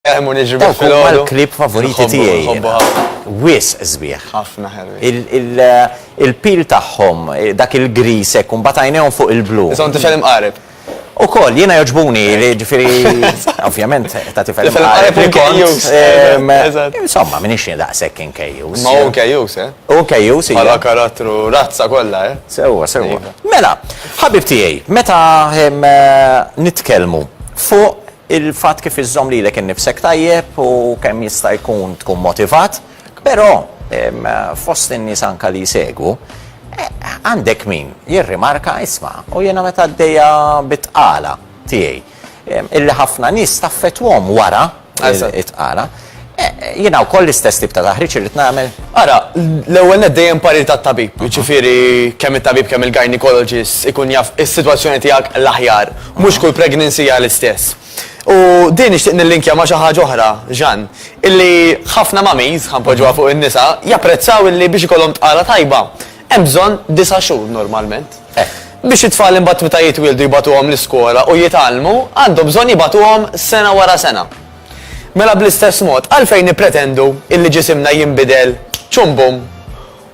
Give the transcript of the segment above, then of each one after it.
Dawk huma l-klieb favoriti tiegħi jiena. Wisq sbieħ. Ħafna ħelwin. Il-peel tagħhom, dak il-grease hekk u mbagħad għajnejhom fuq il-blu. Issa hu tifel imqareb. Ukoll, jiena jogħġbuni, jiġifieri ovvjament ta' tifel imqareb. Tifel imqareb u kejjus. Eżatt. Insomma, m'iniex jien daqshekk inkejjus. Ma hu kejjus, eh? Hu kejjus, iva. Bħala karattru, razza kollha, eh? Sewwa, sewwa. Mela, ħabib tiegħi, meta nitkellmu fuq Il-fatt kif iżżomm lilek innifsek tajjeb u kemm jista' jkun tkun motivat, però fost in-nies anke li jsegwu, għandek min jirrimarka, isma', u jiena meta għaddejja bit-tqala tiegħi, illi ħafna nies taffettwahom wara it-tqala. Jiena wkoll l-istess tip ta' taħriġ irrid nagħmel? Ara, l-ewwel nett dejjem parir tat-tabib, jiġifieri kemm it-tabib kemm il-gynecologist ikun jaf is-sitwazzjoni tiegħek l-aħjar. Mhux kull pregnancy hija l-istess. U din nixtieq nillinkja ma' xi ħaġa oħra, Jeanne, illi ħafna mummies, ħa npoġġuha fuq in-nisa, japprezzaw illi biex ikollhom tqala tajba hemm bżonn disa' xhur normalment. Biex it-tfal imbagħad meta jitwieldu jibagħtuhom l-iskola u jitgħallmu, għandhom bżonn jibagħtuhom sena wara sena. Mela bl-istess mod, għalfejn nippretendu illi ġisimna jinbidel ċum bum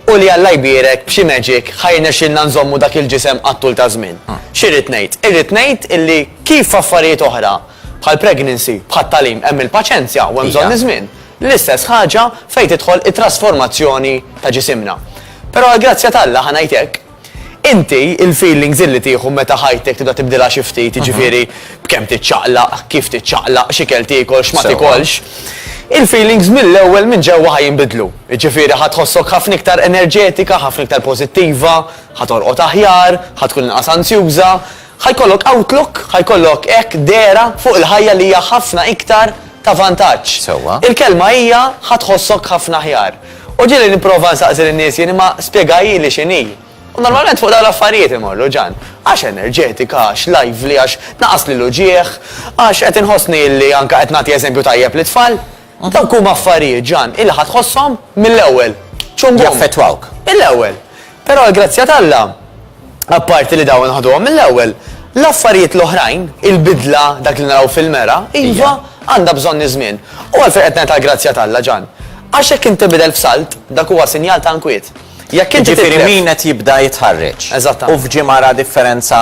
u li Alla jbierek b'xi magic ħa jirnexxilna nżommu dak il-ġisem għat-tul taż-żmien? X'irrid ngħid? Irrid ngħid illi kif f'affarijiet oħra bħal pregnancy, bħat-tagħlim hemm il-paċenzja u hemm bżonn iż-żmien, l-istess ħaġa fejn tidħol it-trasformazzjoni ta' ġisimna. Però għall-grazzja t'Alla, ħa ngħid hekk, Inti, il-feelings illi tieħu meta ħajtek tibda tibdilha xi ftit, jiġifieri b'kemm tiċċaqlaq, kif tiċċaqlaq, x'ikel tiekol, x'ma tikolx, il-feelings mill-ewwel minn ġewwa ħa jinbidlu. Jiġifieri ħa tħossok ħafna iktar enerġetika, ħafna iktar pożittiva, ħa torqod aħjar, ħa tkun inqas anzjuża, Ħa jkollok outlook, ħa jkollok hekk dehra fuq il-ħajja li hija ħafna iktar ta' vantaġġ. Sewwa. Il-kelma hija ħa tħossok ħafna aħjar. U ġieli nipprova nsaqsi lin-nies jien imma spjegahieli x'inhi. U normalment fuq dawn l-affarijiet imorru, Ġan. Għax enerġetika, għax lively, għax tnaqqasli l-uġigħ, għax qed inħossni li anke qed nagħti eżempju tajjeb lit-tfal. Ma dawk huma affarijiet, Ġan, illi ħa tħosshom mill-ewwel. Ċum bum. Jaffettwawk. Mill-ewwel. Però għall-grazzja t'Alla, apparti li dawn ħaduhom mill-ewwel, l-affarijiet l-oħrajn, il-bidla, dak li naraw fil-mera, iva, għandha bżonn iż-żmien. U għalfejn qed ngħid għall-grazzja t'Alla, Ġan? Għax jekk int tinbidel f'salt, dak huwa sinjal ta' inkwiet. Jekk inti tidher. Jiġifieri min qed jibda jitħarreġ. Eżattament. U f'ġimgħa ra differenza.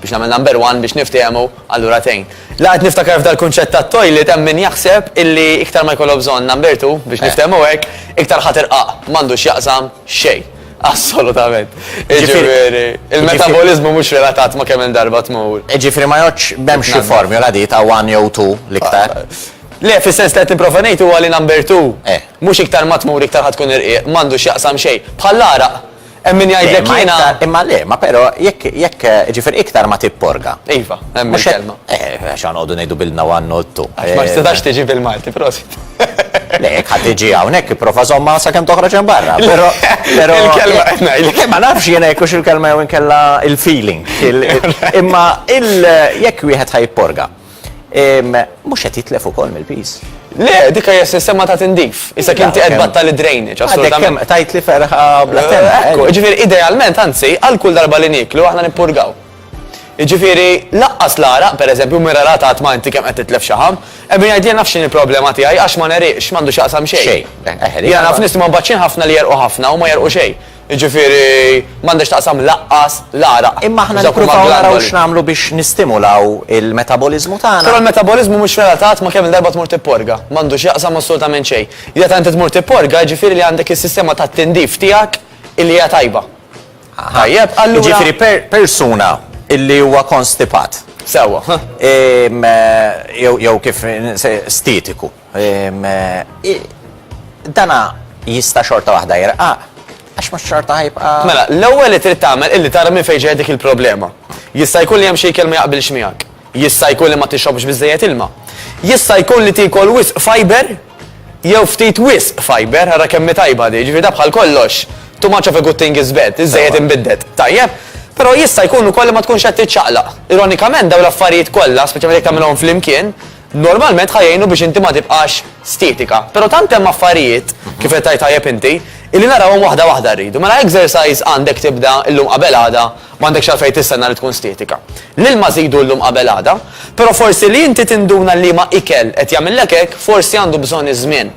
Biex nagħmel number one biex niftiehmu allura tgħin. La qed niftakar f'dal-kunċett tat-toilet hemm min jaħseb illi iktar ma jkollok bżonn number two biex niftehmu hekk, iktar ħa tirqaq. M'għandu x'jaqsam xejn. Assolutament. Jiġifieri il-metaboliżmu mhux relatat ma' kemm-il darba tmur. Jiġifieri ma jgħoddx m'hemmx xi formula di ta' one jew two l-iktar? Le, fis-sens li qed nipprova ngħid huwa li number two mhux iktar ma tmur iktar ħa tkun irqiq, m'għandu x'jaqsam xejn. Bħall-għaraq. Hemm min jgħidlek jiena. Imma le, ma però jekk jekk ġifier iktar ma tipporga. Iva, hemm il-kelma. Eh, għax għanqogħdu ngħidu bilna u għannottu. Għax ma tistax eh, tiġi bil-Malti, prosit. Le, jekk ħadd iġi hawnhekk ipprova żomma sakemm toħroġ hemm barra. Però però il-kelma qed ngħidlek. Eh, ma nafx jiena jekk il-kelma jew inkella il-feeling. Imma il jekk wieħed ħajporga. Mhux qed jitlef ukoll mill-piż. Le, dik hija sistema ta' tindif. Issa kien qed battal id-drainage, assolutament. Tajt li ferħa bla eh, Ekku, ġifieri idealment, anzi, għal kull darba li niklu aħna nippurgaw. Ġifieri laqqas l-ara, pereżempju, mira rata qatt ma inti kemm qed titlef xi ħam, ebbi ngħid jien nafx il-problema tiegħi għax ma neriqx m'għandu x'aqsam xejn. Xejn. Eh, eh, Jiena naf nies ma mbaċċin ħafna li jerqu ħafna u ma jerqu xejn. Jiġifieri, m'għandhax taqsam lanqas l-għaraq. Imma aħna nippruvaw naraw x'nagħmlu biex nistimulaw il-metaboliżmu tagħna. Però l-metaboliżmu mhux relatat ma' kemm-il darba tmur tipporga. M'għandu x'jaqsam assolutament xejn. Meta inti tmur tipporga, jiġifieri li għandek is-sistema tat-tindif tiegħek illi hija tajba. Tajjeb, allura. Jiġifieri persuna illi huwa konstipat. Sewwa. Jew kif stitiku. Dana jista' xorta waħda jirqaq, għax mhux xorta ħajbqa'. Mela, l-ewwel li trid tagħmel illi tara minn fejn ġejja dik il-problema. Jista' jkun li hemm xi ikel ma jaqbilx miegħek. Jista' jkun li ma tixrobx biżżejjed ilma. Jista' jkun li tiekol wisq fiber jew ftit wisq fiber, ara kemm hi tajba di, jiġifieri da bħal kollox, too much of a good thing is bad, iż-żejjed inbidded. Tajjeb? Però jista' jkun ukoll li ma tkunx qed tiċċaqlaq. Ironikament dawn l-affarijiet kollha, speċjalment jekk tagħmilhom flimkien, Normalment ħa jgħinu biex inti ma tibqax stietika. Però tant hemm affarijiet, kif qed tgħid tajjeb inti, illi narawhom waħda waħda rridu. Mela exercise għandek tibda llum qabel għada, m'għandekx għalfejn tistenna li tkun stietika. L-ilma żidu llum qabel għada, però forsi li inti tinduna liema ikel qed jagħmillek hekk forsi għandu bżonn iż-żmien.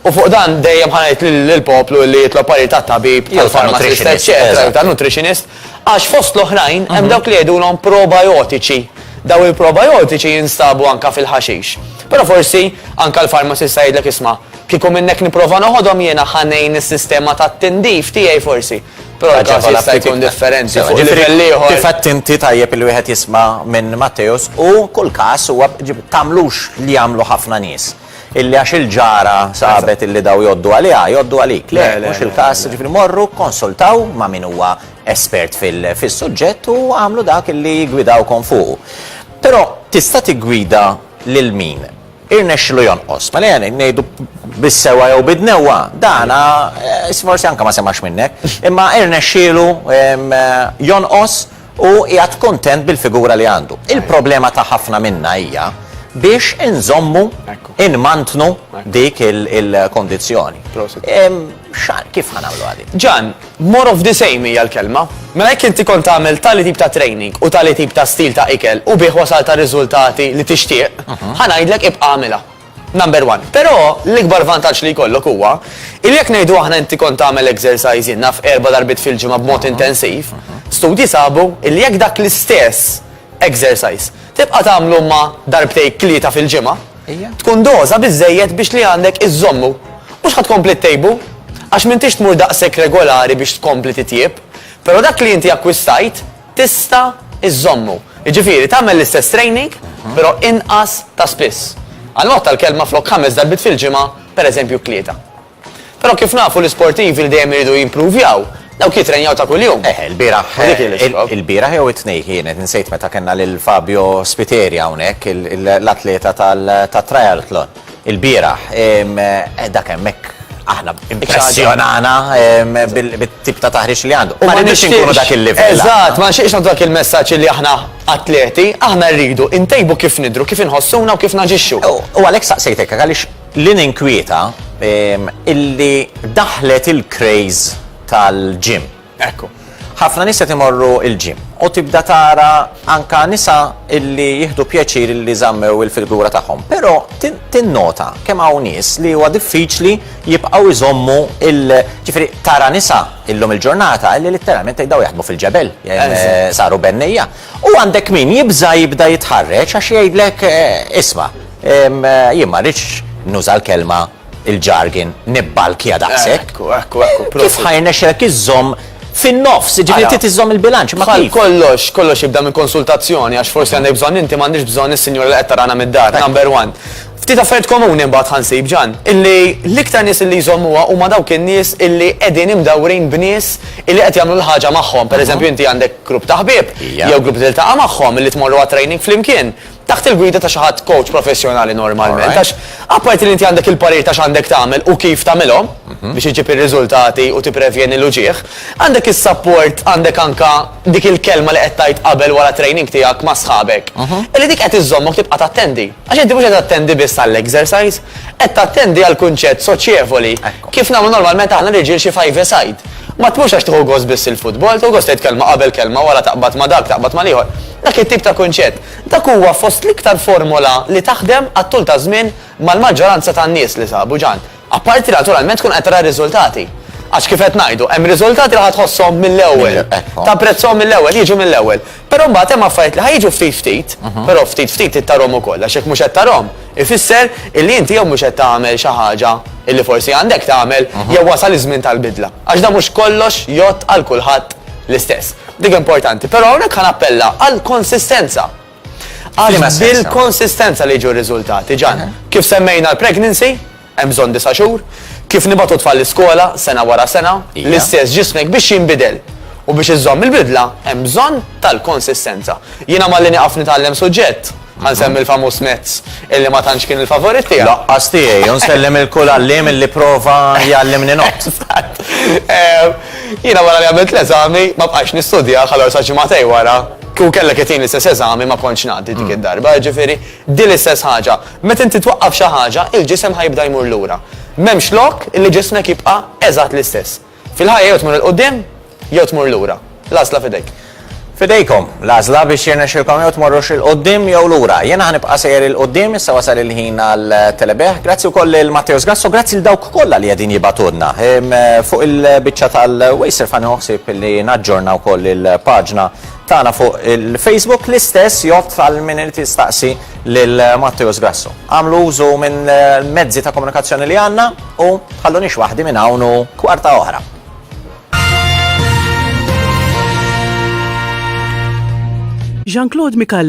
U fuq dan dejjem ħa ngħid lill-poplu li jitlob parir tat-tabib, tal-pharmacist, eċċetera, jew tan-nutritionist, Għax fost l-oħrajn hemm dawk li jgħidulhom probajotiċi. Dawn il-probajotiċi jinstabu anke fil-ħaxix. Però forsi anke l-farmasista jgħidlek isma', kieku minnhekk nipprova noħodhom jiena ħa ngħin is-sistema tat-tindif tiegħi forsi. Però l-każ jista' jkun differenti fuq livell ieħor. Kif għedt inti tajjeb il-wieħed jisma' minn Matteus u kull każ huwa tagħmlux li jagħmlu ħafna nies. Illi għax il-ġara sabet illi daw jgħoddu għaliha, jgħoddu għalik. Le, mhux il-każ, ġifieri morru, konsultaw ma' min huwa espert fis-suġġett u għamlu dak illi jgwidawkom fuqu. Però tista' tiggwida lil min irnexxilu jonqos. Mela jani ngħidu bis-sewa jew bid-newwa, dana eh, forsi anke ma semax minnek, imma irnexxielu jonqos Hu qiegħed kuntent bil-figura li għandu. Il-problema ta' ħafna minna hija biex inżommu, inmantnu dik il-kondizzjoni. Kif ħa nagħmluha din? Ġan, more of the same hija l-kelma. Mela jekk inti kont tagħmel tali tip ta' training u tali tip ta' stil ta' ikel u bih wasalt għar-riżultati li tixtieq, ħa ngħidlek ibqa' agħmilha. Number one. Però l-ikbar vantaġġ li jkollok huwa illi jekk ngħidu aħna inti kont tagħmel exercise naf erba' darbiet fil-ġimgħa b'mod intensiv, studji sabu illi jekk dak l-istess exercise tibqa' tagħmlu ma' darbtejk tlieta fil-ġimgħa, tkun doża biżżejjed biex li għandek iżżommu. Mhux ħa tkompli ttejbu, għax m'intix tmur daqshekk regolari biex tkompli titjieb, però dak li inti akkwistajt, tista' iżżommu. Jiġifieri tagħmel l-istess training però inqas ta' spiss. Għal mod tal-kelma flok ħames darbiet fil-ġimgħa pereżempju tlieta. Però kif nafu l-isportivi li dejjem iridu jimpruvjaw dawk jitrenjaw ta' kuljum. Eħe, ilbieraħ, U dik hi l-iskob. ilbieraħ jew it-Tnejn kienet, insejt meta kellna lil Fabio Spiteri hawnhekk, l-atleta tat-triathlon. il-bieraħ. Eh, dak hemmhekk aħna impressjonana bit-tip ta' taħriġ li għandu. Ma rridux inkunu dak il-livell. Eżatt, ma nxieqx dak il-messaġġ li aħna atleti, aħna rridu intejbu kif nidru, kif inħossuna u kif naġixxu. U għalhekk saqsejtek għaliex li ninkwieta illi daħlet il-craze tal-ġim. Ekku. Ħafna nies qed imorru il-gym u tibda tara anka nisa illi jieħdu pjaċir illi żammew il-filgura tagħhom. Però tinnota kemm hawn nies li huwa diffiċli jibqgħu jżommu il ġifieri tara nisa illum il-ġurnata illi litteralment jgħidaw jaħdmu fil-ġebel, eh, saru bennejja. U għandek min jibża jibda jitħarreġ għax jgħidlek eh, isma' eh, jien ma rridx nuża l-kelma il-jargon nibbalkja daqshekk. Ekku, ekku, ekku, prosit. Kif ħa jirnexxilek iżżomm fin-nofs, jiġifieri Ara. trid iżżomm il-bilanċ, ma Bħal kif? kollox, kollox jibda minn konsultazzjoni għax forsi għandek bżonn inti m'għandix bżonn is-sinjura li qed tarana mid-dar, number one. Ftit affarijiet komuni mbagħad ħa nsib Ġan, illi l-iktar nies illi jżommuha huma dawk in-nies illi qegħdin imdawrin b'nies illi qed jagħmlu l-ħaġa magħhom. Pereżempju inti għandek grupp ta' ħbieb Ija. jew grupp li tiltaqa' magħhom illi tmorru għat-training flimkien. Taħt il-gwida ta' xi ħadd kowċ professjonali normalment għax apparti li inti għandek il-parir ta' x'għandek tagħmel u kif tagħmilhom biex iġġib ir-riżultati u tipprevjeni l-uġigħ, għandek is-sapport, għandek anke dik il-kelma li qed tgħid qabel wara t-training tiegħek ma' sħabek, illi dik qed iżżommok tibqa' tattendi. Għax inti mhux qed tattendi biss għall-exercise, qed tattendi għall-kunċett soċjevoli, kif nagħmlu normalment aħna r-riġiel xi five-a-side. Ma tmurx għax tieħu gost biss il-futbol, tieħu gost tgħid kelma qabel, kelma wara, taqbad ma' dak, taqbad mal-ieħor. Dak it-tip ta' kunċett. Dak huwa fost l-iktar formola li taħdem għat-tul taż-żmien mal-maġġoranza tan-nies li sabu ġan. Apparti li naturalment tkun qed tara r-riżultati. Għax kif qed ngħidu, hemm riżultati li ħa tħosshom mill-ewwel. Tapprezzahom mill-ewwel, jiġu mill-ewwel. Però mbagħad hemm affarijiet li ħa jiġu ftit ftit, però ftit ftit trid tarhom ukoll għax jekk mhux qed tarhom ifisser illi inti jew mhux qed tagħmel xi ħaġa illi forsi għandek tagħmel jew wasal iż-żmien tal-bidla. Għax dan mhux kollox jgħodd għal kulħadd l-istess. Dik importanti. Però hawnhekk ħa nappella għall-konsistenza. Għax bil-konsistenza li jiġu r-riżultati, Ġan. Kif semmejna l-pregnancy, Hemm bżonn disa' xhur? Kif nibagħtu tfal l-iskola, sena wara sena, l-istess ġismek biex jinbidel. U biex iżżomm il-bidla, hemm bżonn tal-konsistenza. Jiena malli nieqaf nitgħallem suġġett, ħa nsemmi l-famuż Maths, illi ma tantx kien il-favorit tiegħi. Lanqas tiegħi, u nsellem lil kull għalliem illi pprova jgħallimni nott. Eżatt. Jiena wara li għamilt l-eżami, ma bqajtx nistudjah, allura sa ġimagħtej wara, kieku kellek itini l-istess eżami ma kontx ngħaddi dik id-darba, jiġifieri, Din l-istess ħaġa, meta inti twaqqaf xi ħaġa, il-ġisem ħa jibda jmur lura. M'hemmx lok li ġismek jibqa' eżatt l-istess. Fil-ħajja jew tmur 'il quddiem jew tmur lura. L-għażla f'idejk. F'idejkom, l-għażla biex jirnexxilkom jew tmorrux 'il quddiem jew lura. Jiena ħa nibqa' sejjer 'il quddiem, issa wasal il-ħin għal Telebih. Grazzi wkoll lil Matteo Sgrasso, grazzi lil dawk kollha li qegħdin jibgħatulna. Fuq il-biċċa tal-Waze irfan nieħu ħsieb li naġġorna wkoll il-paġna tagħna fuq il-Facebook l-istess jott għal min irid jistaqsi lil Matteus Grasso. Għamlu użu minn mezzi ta' komunikazzjoni li għandna u ħallunix waħdi minn hawn u kwarta oħra. Jean-Claude Mikal